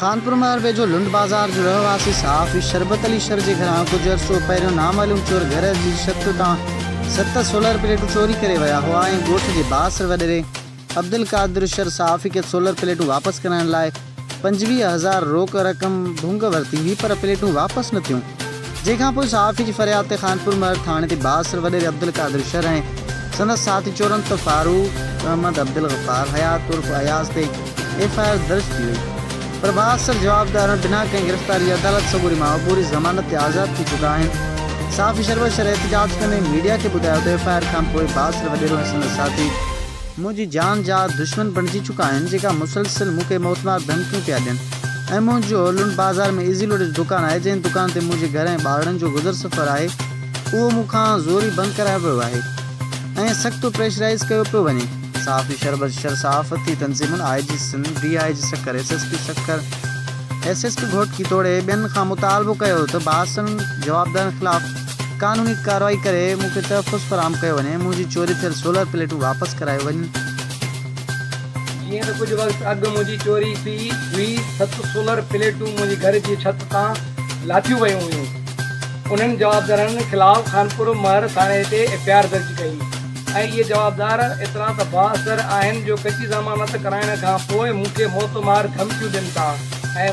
خانپور مهر ويجهو لنڊ بازار جو رهواسي صحافي شربت علي شر جي گهران ڪجهه عرصو پهريون نامعلوم چور گهر جي ڇت تان ست سولر پليٽون چوري ڪري ويا هئا ۽ ڳوٺ جي بااثر وڏيري عبدالقادر شر صحافي کي سولر پليٽون واپس ڪرائڻ لاء پنجويهه هزار روڪ رقم ڀونگ ورتي هئي پر پليٽون واپس نه ٿيون. جنهن کان پوء صحافي جي فرياد تي خانپور مهڙ ٿاڻي تي بااثر وڏيري عبدالقادر شر ۽ سندس ساٿي چورنت فاروق احمد عبدالغفار حيات عرف اياز تي ايف آء آر درج ٿي وئي پر بااثر جوابدارن بنا ڪنهن گرفتاري جي عدالت سڳوري مان عبوري ضمانت تي آزاد ٿي چڪا آهن صحافي شربت شر احتجاج ڪندي ميڊيا کي ٻڌايو ته ايف آء آر کان پوء بااثر وڏيرو ۽ سندس ساٿي منهنجي جان جا دشمن بڻجي چڪا آهن جيڪا مسلسل مون کي موتمار ڌمڪيون پيا ڏين. ۽ منهنجو لنڊ بازار ۾ ايزي لوڊ جو دڪان آهي جنهن دڪان تي منهنجي گهر ۽ ٻارڙن جو گذر سفر آهي اهو مون کان زوري بند ڪرايو ويو آهي ۽ سخت پريشرائيز ڪيو پيو وڃي. صحافي شربت شر صحافتي تنظيمن I G Sindh, D I G Sukkur, S S P Sukkur, S S P Ghotki توڙي ٻين کان مطالبو ڪيو ته باسن جوابدارن خلاف قانوني ڪارروائي ڪري مون کي تحفظ فراهم ڪيو وڃي ۽ منهنجي چوري ٿيل سولر پليٽون واپس ڪرايو وڃن. جيئن ته ڪجهه وقت اڳ منهنجي چوري ٿي هئي، ست سولر پليٽون منهنجي گهر جي ڇت تان لاٿيون ويون هيون، انهن جوابدارن خلاف خانپور مهر ٿاڻي تي ايف آء آر درج ڪئي ۽ اهي جوابدار ايترا ته بااثر آهن جو ڪچي ضمانت ڪرائڻ کان پوء مون کي موت مار ڌمڪيون ڏين ٿا ۽